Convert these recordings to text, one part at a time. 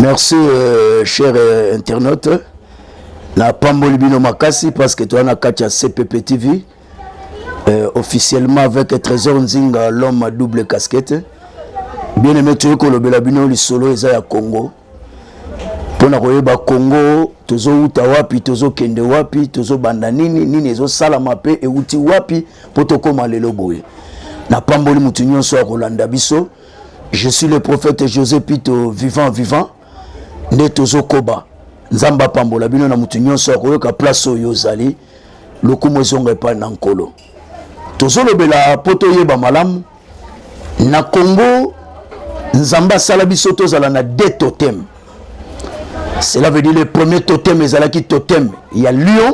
merci euh, cher euh, internaute napamboli bino makasi parce que toza na kati ya cpp tv euh, officiellement avec trésor nzinga l'homme à double casquette bien aimé toyei kolobela bino lisolo eza ya congo mpo na koyeba congo tozowuta wapi tozokende wapi tozobanda nini nini ezosalama mpe ewuti wapi mpo tokóma lelo boye napamboli moto nyonso akolanda biso je suis le prophète josé pito vivant vivant nde tozokoba nzambe apambola bino na moto nyonso akoyoka place oyo ozali lokumu ezonga epai na nkolo tozolobela mpo toyeba malamu na congo nzambe asala biso tozala na de totem cela veut dire le premier totem ezalaki totem ya lion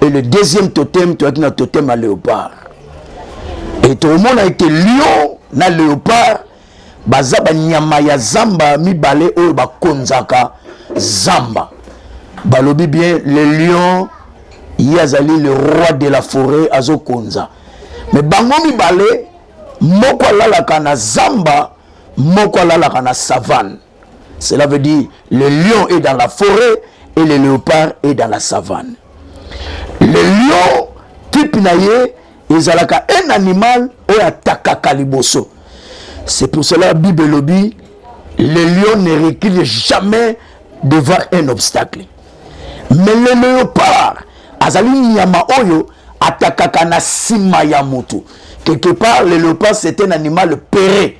et le deuxième totem toyaki na totem ya léopard et tokomona ete lion na léopard baza banyama ya zamba mibale oyo bakonzaka zamba balobi bien le lion ye azali le roi de la forêt azokonza me bango mibale moko alalaka na zamba moko alalaka na savane Cela veut dire le lion est dans la forêt et le léopard est dans la savane. Le lion type na ye ezalaka un animal oyo atakaka liboso. C'est pour cela Bible elobi le lion ne recule jamais devant un obstacle. Mais le léopard azali nyama oyo atakaka na sima ya moto. Quelque part le léopard c'est un animal péré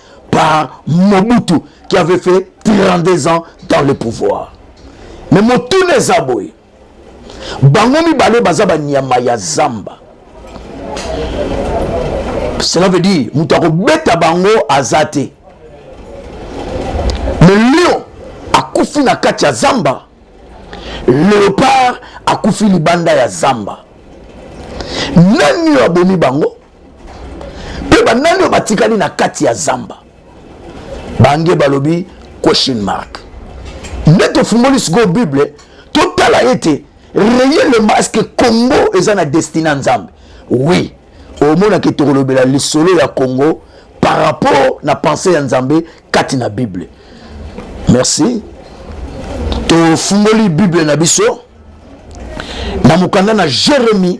par Mobutu qui avait fait 32 ans dans le pouvoir. Mais motuna eza boye bango mibale baza banyama ya zamba cela veut dire moto akobeta bango aza te me lion akufi na kati ya zamba leopard akufi libanda ya zamba nani oyo abomi bango mpe banani oyo batikali na kati ya zamba bange balobi question mark nde tofungoli sikoyo bible totala ete reyelema eske congo eza na destine ya nzambe oui omonaki tokolobela lisolo ya congo par rapport na pensée ya nzambe kati na bible merci tofungoli bible na biso na mokanda na jeremie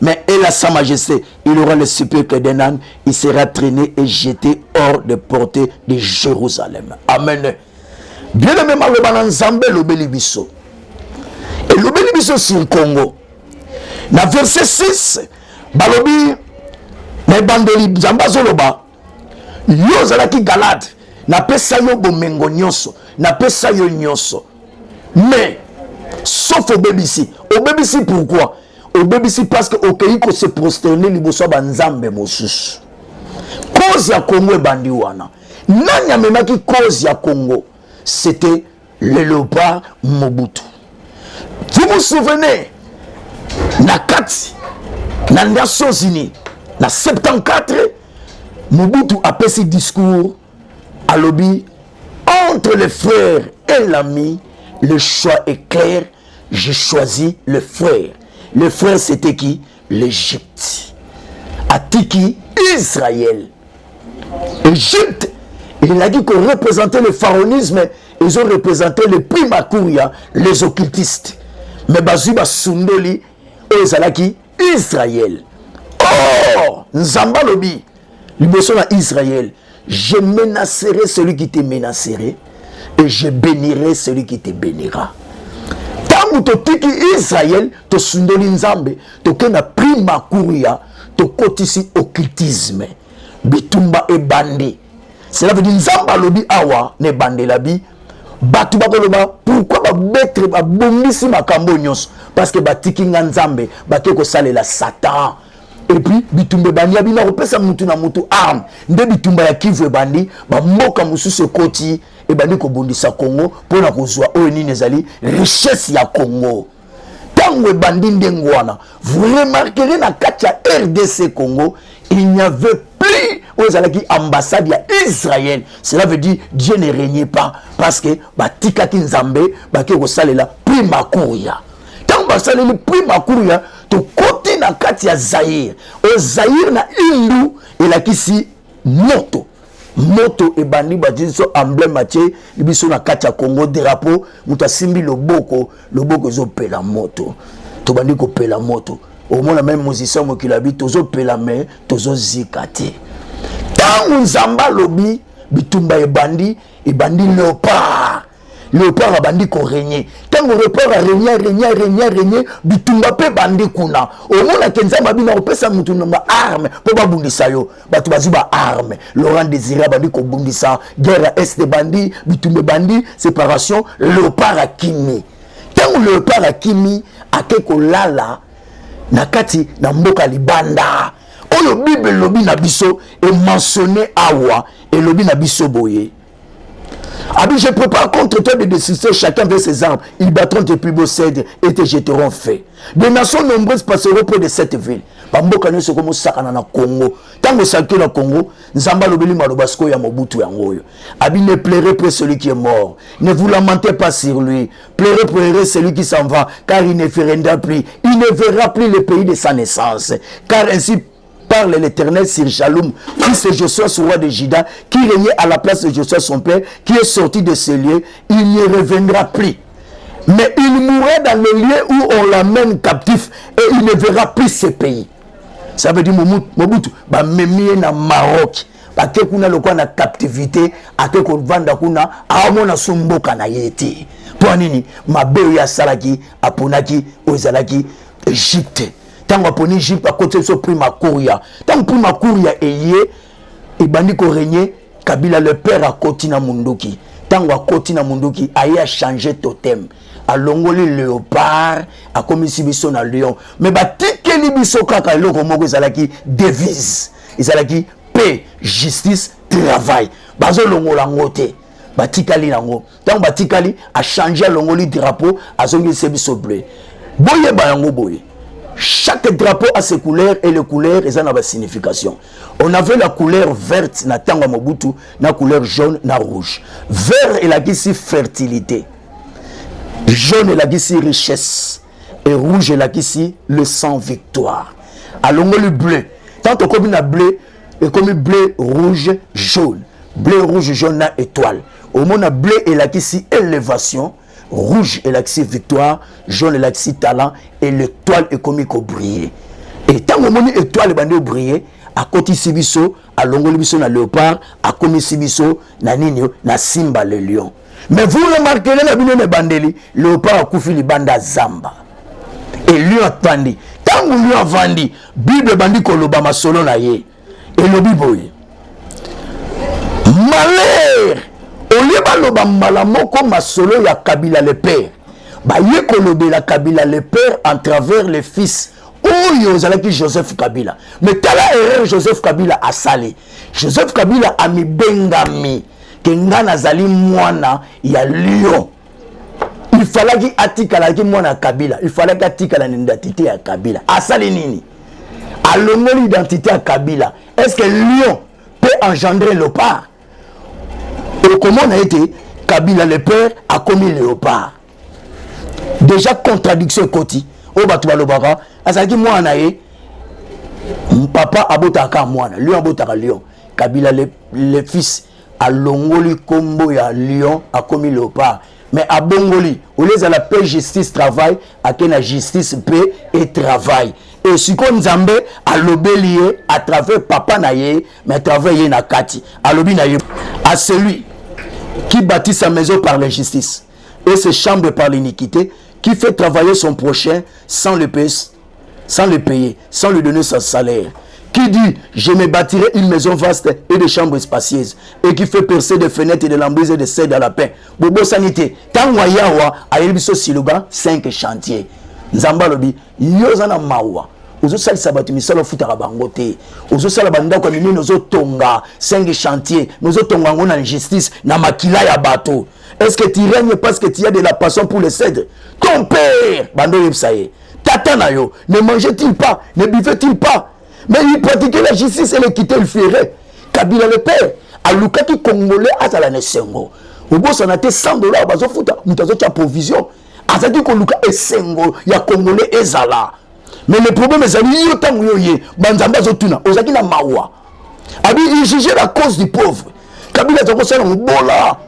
Mais elle a sa majesté, il aura le sépulcre d'un âne, il sera traîné et jeté hors de portée de Jérusalem. Amen. Bien aimé maloba na Nzambe lobeli biso. Et lobeli biso sur Congo. Na verset 6, balobi na ebandeli Nzambe azoloba yo ozalaki galade napesa yo bomengo nyonso napesa yo nyonso mais sauf obebisi obebisi pourquoi obebisi parce que okeyi kose prosterne liboso ya banzambe mosusu cause ya congo ebandi wana nani amemaki cause ya congo c'était le leopard mobutu vous vous souvenez na kati na nations unis na 74 mobutu apesi discours alobi entre le frère et l'ami le choix est clair je choisis le frère le frère c'était qui l'Egypte atiki Israël Egypte elaki ko représenter le pharaonisme ezo représenter le prima curia les occultistes mais bazwi basundoli oyo ezalaki Israël or nzambe alobi liboso na Israël Je menacerai celui qui te menacerai et je benirai celui qui te benira. Tango totiki Israël, tosundoli Nzambe, tokenda prima kuria, tokotisi occultisme. Bitumba ebandi. Cela veut dire Nzambe alobi awa ne bandela bi bato bakoloba pourkui babetre babongisi makambo nyonso parce que batiki nga nzambe bake kosalela satan epuis bitumba ebandi ya bino akopesa mutu na mutu arme nde bitumba ya kivu ebandi bamboka mosusu ekoti ebandi kobundisa congo mpo na kozwa oyo nini ezali richesse ya congo ntango ebandi ndenge wana vous remarquerez na kati ya rdc congo il n'y avait plus oyo ezalaki ambassade ya israël cela veut dire dieu ne régnait pas parce que batikaki nzambe bake kosalela prima kuria ntango basaleli prima kuria tokoti na kati ya zaire o zaire na hindu elakisi moto moto ebandi bati biso emblème atie biso na kati ya congo drapeau moto asimbi loboko loboko ezopela moto tobandi kopela moto omona meme musicien mokili abi tozopela me tozozika te ntango nzambe alobi bitumba ebandi ebandi leopard leopard abandi koregne ntango leopard aregne aregne aregne aregne bitumba mpe bandi kuna omonake nzambe abina kopesa moto na baarme mpo babundisa yo bato bazwi baarme laurent désiré abandi kobundisa guerre ya este bandi bitumba ebandi séparation leopard akimi ntango leopard akimi ake kolala na kati na mboka libanda oyo bible elobi na biso emensionne awa elobi na biso boye abi je prépare contre toi de destruction chacun vers ses armes ils battront tes plus beaux cèdres et te jeteront fait des nations nombreuses passeront près de cette ville bamboka nyonso ekomi osakana na congo ntango esakio na congo nzambe alobeli maloba sikoyo ya mobutu yango oyo abi ne pleure près celui qui est mort ne vous lamentez pas sur lui pleure pleure celui qui s'en va car il ne ferenda plus il ne verra plus le pays de sa naissance car ainsi parle l'Éternel sur Jaloum, fils de Josué, roi de Juda, qui régnait à la place de Josué, son père, qui est sorti de ce lieu, il n'y reviendra plus. Mais il mourra dans le lieu où on l'amène captif et il ne verra plus ce pays. Ça veut dire Mobutu, bah, memie na Maroc. ake kuna lokola na captivité ake kovanda kuna aomona so mboka na ye te mpo ya nini mabe oyo asalaki aponaki oyo ezalaki egypte ntango aponi jipe akotisa biso prima kuria ntango prima kuria eye ebandi koregne kabila le père akoti na munduki ntango akoti na munduki aye achange totem alongoli leopard akomisi biso na lion me batikeli biso kaka eloko moko ezalaki devise ezalaki pe justice travail bazolongola yango te batikali yango ntango batikali achange alongoli drapeau azongisi biso bleu boyeba yango boye chaque drapeau a ses couleurs et les couleurs eza na ba signification on avait la couleur verte na ntango ya mobutu na couleur jaune na rouge vert elakisi fertilité jaune elakisi richesse et rouge elakisi le sang victoire alongoli bleu tant okomi na bleu ekomi bleu rouge jaune bleu rouge jaune na étoile omona bleu elakisi elevation rouge elakisi victoire jaune elakisi talent et l'étoile ekomi kobrille e ntango omoni étoile ebandi obrille akotisi biso alongoli biso na léopard akomisi biso na nini na simba le lion mais vous remarquele na bino na ebandeli léopard akufi libanda zamba e lion afandi ntango lion afandi bible ebandi koloba masolo na ye elobi boye malere olie baloba mbala moko masolo ya kabila le père baye kolobela kabila le père en travers le fils oyo ezalaki joseph kabila me tala erreur joseph kabila asali joseph kabila amibengami ke ngai nazali mwana ya lion il falaki atikalaki mwana ya kabila il falaki atikala na identité ya kabila asali nini alongoli identité ya kabila est ce que lion peut engendrer leopard okomona ete kabila le père akomi léopard déjà contradiction ekoti oyo bato balobaka azalaki mwana na ye papa abotaka kaka mwana lion abotaka lion kabila le, le fils alongoli kombo ya lion akomi leopard mais abongoli olie ezala pe justice travail ake na justice pe e travail e sikoyo nzambe alobeli ye à travers papa na ye mais à travers ye na kati alobi na ye à celui qui bâtit sa maison par la justice et ses chambres par l'iniquité qui fait travailler son prochain sans le pèse sans le payer, sans lui donner son salaire. Qui dit je me bâtirai une maison vaste et des chambres spacieuses et qui fait percer des fenêtres et des lambrises et des cèdres à la paix. Bobo sanité, tangwa yawa ayelibiso siluba 5 chantiers. Nzamba lobi, yoza na mawa. ozosalisa bato misala ofutaka bango te ozosala bandako ya minene ozotonga 5 chantier me ozotonga yango na injustice na makila ya bato est ce que tu règne parce que tu as de la passion pour le cèdre ton père bando oyebisa ye Tata na yo ne mangeait-il pas, ne buvait-il pas Mais il pratiquait la justice et l'équité, il ferait. Kabila le père alukaki congolais azala na esengo obosana te 100 dollars bazofuta moto azotya provision azalaki koluka esengo ya congolais ezala mais le problème ezali yo ntango yo ye banzambe azotuna ozalaki na mawa abi il juge la cause du pauvre kabila aza kosala mobola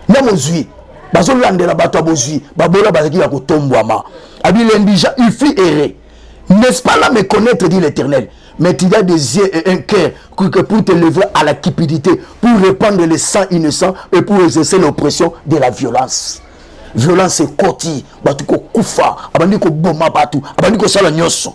na mozwi bazolandela bato ya bozwi babola bazalaki ya kotombwama abi lendija ufi ere n'est-ce pas là me connaître dit l'éternel mais il y a des yeux et un cœur que pour te lever à la cupidité pour répandre les sangs innocents et pour exercer l'oppression de la violence violence ekoti bato kokufa abandi koboma bato abandi kosala nyonso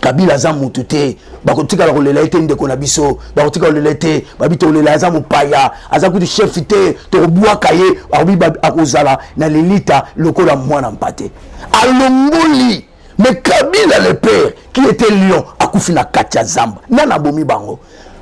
kabila aza mutu te bakotikala kolela ye te ndeko na biso bakotikala kolela ye te babi tokolela aza mopaya aza kutu chef te tokobwaka ye akobi akozala na lilita lokola mwana mpate alongoli mais kabila le père qui était lion akufi na kati ya zamba nani abomi bango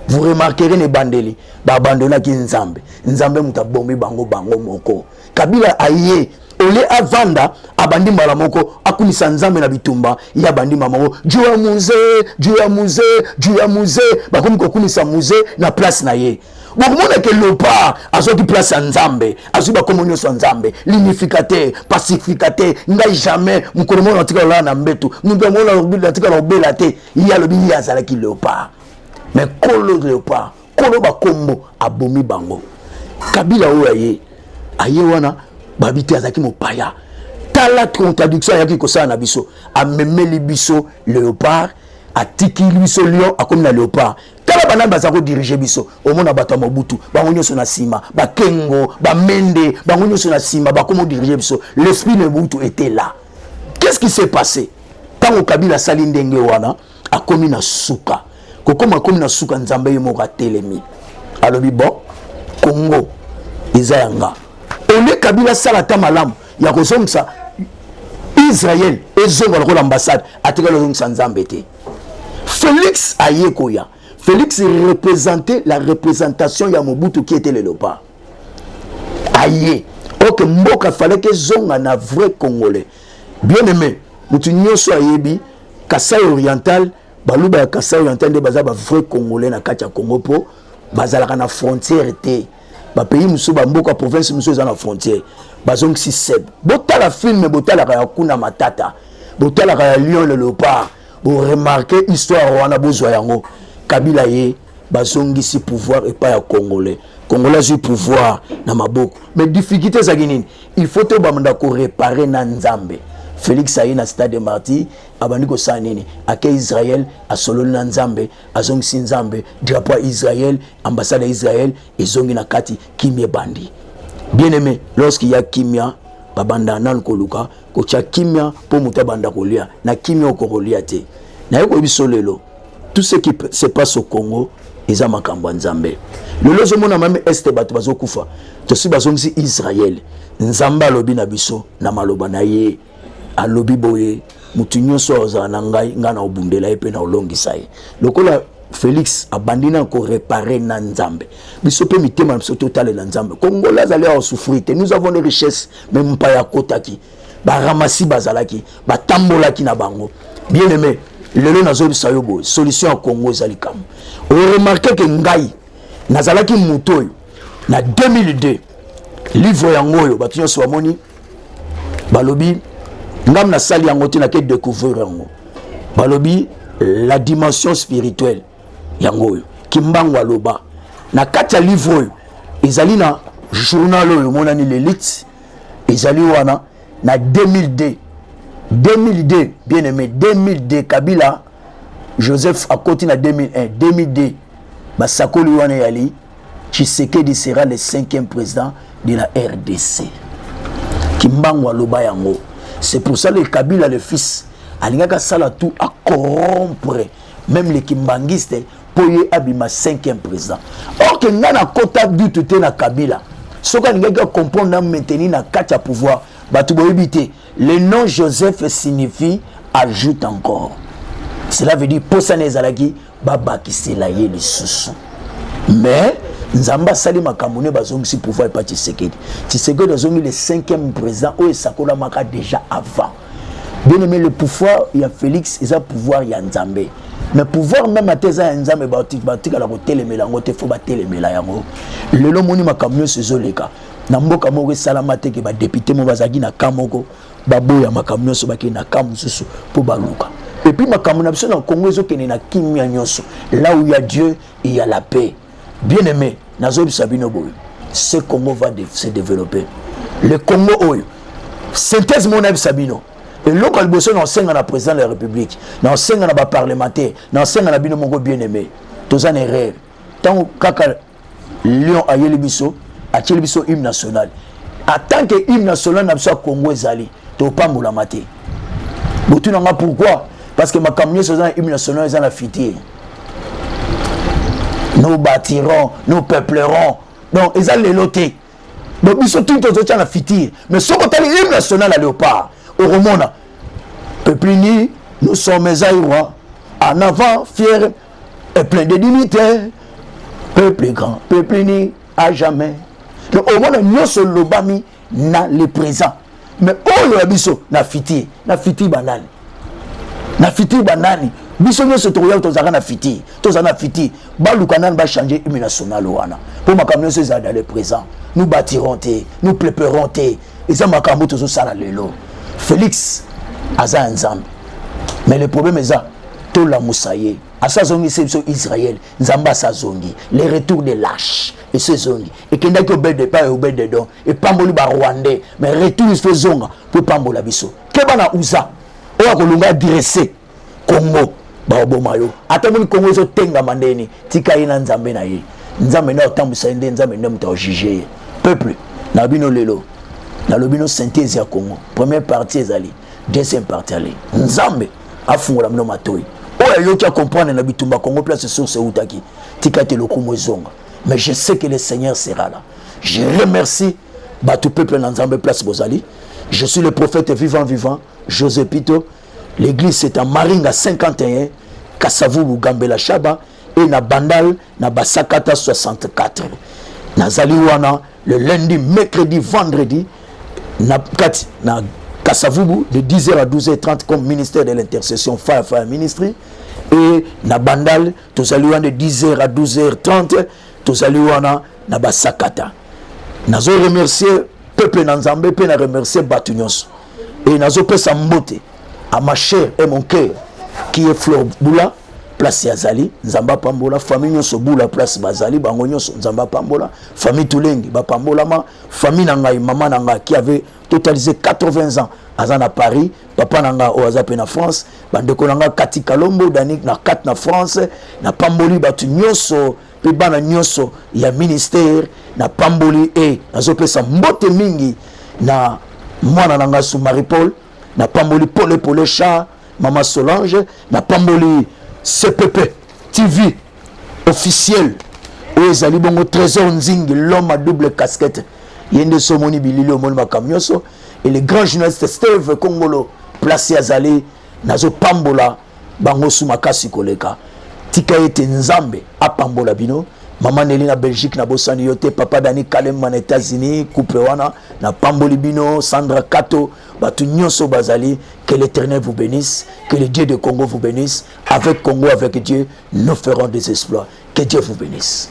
vous remarquerez na ebandeli babandonaki nzambe nzambe moto abomi bango bango moko kabila aye ole avanda abandi mbala moko akumisa nzambe na bitumba ye abandi mbala moko juu ya muze juu ya muze juu ya muze bakomi kokumisa muze na place na ye bokomona ke lopa azwaki place ya nzambe azwi bakomo nyonso ya nzambe linificateur pacificateur ngai jamais mokolo moko natika lolala na mbetu moto yango natika na obela te ye alobi ye azalaki leopard mais kolo leopard kolo bakombo abomi bango kabila oyo aye aye wana babi te azalaki mopaya tala contradiction ayaki kosala na biso amemeli biso léopard atiki biso lion akomi na léopard tala banani baza kodirige biso omona bato ya mobutu bango nyonso na nsima bakengo bamende bango nyonso na nsima bakoma odirige biso l'esprit de mobutu était là qu'est ce qui s'est passé ntango kabila asali ndenge wana akomi na suka kokoma akomi na suka nzambe ye moko atelemi alobi bon kongo eza ya nga ole kabila asala ata malamu ya kozongisa israel ezonga lokola ambassade atikali ozongisa nzambe te felix aye koya felix représente la représentation ya mobutu qui était le leopard aye oke mboka falaki ezonga na vrai congolais Bien aimé, mutu nyoso ayebi Kasai oriental, baluba ya Kasai oriental nde baza ba vrai congolais na kati ya Congo po bazalaka na frontière te. Ba pays mususu ba mboka province mususu eza na frontière. Bazongisi seb. Botala film botalaka ya kuna matata. Botalaka ya Lion le Leopard. Bo remarquer histoire wana bozwa yango. Kabila ye bazongisi pouvoir epai ya congolais congolais azwi pouvoir na maboko mais difficulté ezalaki nini il faut tobanda korepare na nzambe félix aye na stade de martyr abandi kosala nini ake israel asololi na nzambe azongisi nzambe drapo ya israel ambassade ya israel ezongi na kati kimia ebandi bien aimé lorsqu'il ya kimia babanda nanu koluka kotya kimia mpo moto abanda kolia na kimia okokolia te naye koyebi so lelo tout ce qui se passe au congo eza makambo ya nzambe lelo ozomona mame este bato bazokufa tosi bazongisi israele nzambe alobi na biso na maloba na ye alobi boye moto nyonso azala na ngai ngai na obundela ye mpe na olongisa ye lokola félix abandi na korepare na nzambe biso mpe mitema na biso totalela nzambe kongola azali awa souffrir te nous avons les richesses me mpaya akotaki baramasi bazalaki batambolaki na bango bien aime lelo nazoyebisa yo boye solution ya congo eza likambo oremarke ke ngai nazalaki moto oyo na 2002 livre yango oyo bato nyonso bamoni balobi ngam nasali yango te nake découvrir yango balobi la dimension spirituelle yango oyo kimbangu aloba na kati ya livre oyo ezali na journal oyo emonani lelite ezali wana na 2002 2002 bien aimé 2002 kabila joseph akoti na 2001 2002 basakoli wana eyali tshisekedi sera le cinquième président de la rdc kimbangu aloba yango c'est pour ça le kabila le fils alingaki asala tout acorompre même les kimbanguistes mpo ye abima cinquième président orke ngai nakota dutu te na kabila soki alingaki acomprendre na maintenir na kati ya pouvoir bato boyebi te le nom joseph signifie ajoute encore cela veut dire mposa na ezalaki babakisela ye lisusu mais nzambe asali makambo nde bazongisi pouvoir epa tshisekedi tshisekedi azongi le cinquième président oyo esakolamaka déjà avant Bien aimé, le pouvoir ya Félix eza pouvoir ya Nzambe. Mais pouvoir même ata eza ya Nzambe batikala kotelemela yango te fo batelemela yango. Lelo moni makambo nyonso ezoleka na mboka moko esalama te ke badepute moko bazalaki na ka moko baboya makambo nyonso bakende na ka mosusu mpo baluka epuis makambo na biso na kongo ezokende na kimia nyonso là où ya dieu ya la paix Bien aimé, nazoyebisa bino boye, ce Congo va de, se développer. Le Congo oyo, synthèse moko nayebisa bino, eloko ya liboso na osenga na président de la République, na osenga na baparlementaire, na osenga na bino moko bien aimé, toza na erreur. Ntango kaka Lion ayeli biso, atieli biso hymne national. En tant que hymne national na biso ya Congo ezali, topambolama te. Botuna nga pourquoi? Parce que makambo nyonso eza na hymne national eza na fitie. nous bâtirons nous peuplerons donc eza lelo te donc biso tuni tozotya na fitir mais soki otali hymne national ya léopard okomona peplini nous sommes aïrois en avant fier et plein de dignité peuple grand peplini à jamais donc omona nyonso elobami na le présent mais oyo ya biso na fitir na fitir banani na fitir banani biso nyonso tokoya tozalaka na fitir tozala na fitir baluka nani bachange hymne national wana mpo makambo nyonso ezala dans le présent nous bâtirons te nous préparons te eza makambo tozosala lelo félix aza ya nzambe mais le problème eza tolamusa ye asi azongisi biso israele nzambe asi azongi le retour de lache esi ezongi ekendaki obede epai ya obede don epamboli barwandais mais retour esi ezonga mpo epambola biso keba na usa oyo akolonga adresse kongo baoboma yo ata omoni kongo ezotengama ndeni tika ye na nzambe na ye nzambe nde otambwisa ye nde nzambe nde moto aojuge ye peuple na bino lelo nalobi no synthèse ya kongo première partie ezali deuxième partie ali nzambe afungola bino matoi oyo ayoki akomprendre na bitumba congo place source eutaki tika te lokumu ezonga mais je sais que le seigneur sera là je remercie bato peuple na nzambe place bozali je suis le prophète vivant vivant josé pito l'église c'est en maringa 51 kasavubu gambela shaba et na bandal na basakata 64 nazali wana le lundi mercredi vendredi na kati na kasavubu de 10h à 12h30 comme ministère de l'intercession fire fire ministry et na bandal tozali wana de 10h à 12h30 tozali wana na basakata nazo remercier peuple na nzambe mpe na remercier bato nyonso et nazopesa mbote à ma chère et mon cœur qui est Flore Bula place ya zali nzambe apambola famille nyonso bula place bazali bango nyonso nzambe apambola famille tulenge bapambolama famille na ngai mama na ngai qui avait totalisé 80 ans aza na paris papa na ngai oyo aza mpe na france bandeko na ngai kati kalombo danik na kati na france napamboli bato nyonso mpe bana nyonso ya ministere na pamboli e nazopesa mbote mingi na mwana na ngai su marie paul na pamboli pole pole char mama solange na pamboli cpp tv officiel oyo ezali bongo trésor nzingi l'homme à double casquette ye nde so omoni bilili omoni makambo nyonso et le grand journaliste steve kongolo place azali nazopambola bango su makasi koleka tika ete nzambe apambola bino mama neli na belgique nabosani yo te papa dani kalemba na états-unis couple wana napamboli bino sandra kato bato nyonso bazali que l'éternel vous bénisse que le dieu de congo vous bénisse avec congo avec dieu nous ferons des exploits que dieu vous bénisse